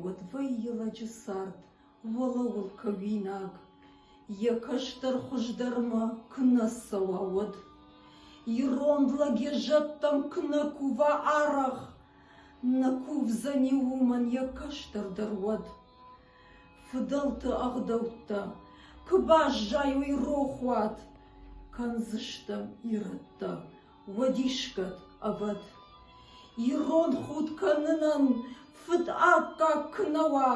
Уӕд вӕййы лӕджы цард уӕлӕуыл кӕуинаг, Йӕ кӕстӕр хуыздӕрмӕ куы нӕ цӕуа, уӕд. Ирон лӕг йӕ зӕдтӕм куы нӕ кува арӕх, Нӕ кувдзӕни уымӕн йӕ кӕстӕрдӕр уӕд. Фыдӕлты ӕгъдӕуттӕ куы баззайой рохуат, Кӕндзыстӕм ирӕттӕ Уадисгӕд, ӕвӕд, ирон худ кӕнынӕн фыд аккаг куы нӕ уа,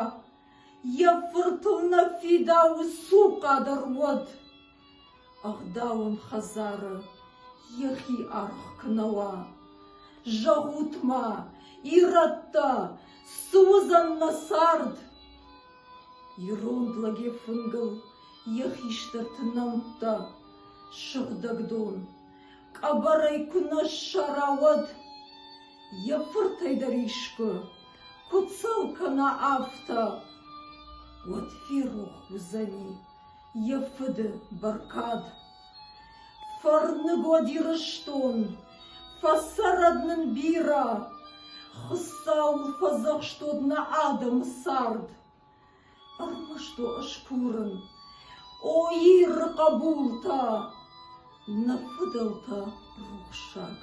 йӕ фыртыл нӕ фидауы цухъа дӕр уӕд. Ӕгъдауон хӕдзары йӕхи аргъ куы нӕ уа. Зӕгъут-ма, ирӕттӕ, цы уыдзӕн нӕ цард? Иронд лӕгӕй фынгыл йӕ хистӕрты нӕмттӕ, сыгъдӕг дон, Къӕбӕрӕй куы нӕ ссара, уӕд йӕ фыртӕй дӕр искуы куы цӕл кӕна афтӕ, уӕд ферох уыдзӕни йӕ фыды бӕркад. Фӕрныгод Ирыстон, фӕцӕрӕд нын бирӕ, Хуыцауыл фӕдзӕхстод нӕ адӕмы цард. Ӕрмӕст уӕ сбурын, о Иры хъӕбултӕ! Нӕ фыдӕлтӕ рухсаг,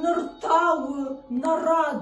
ныр та у нӕ рад!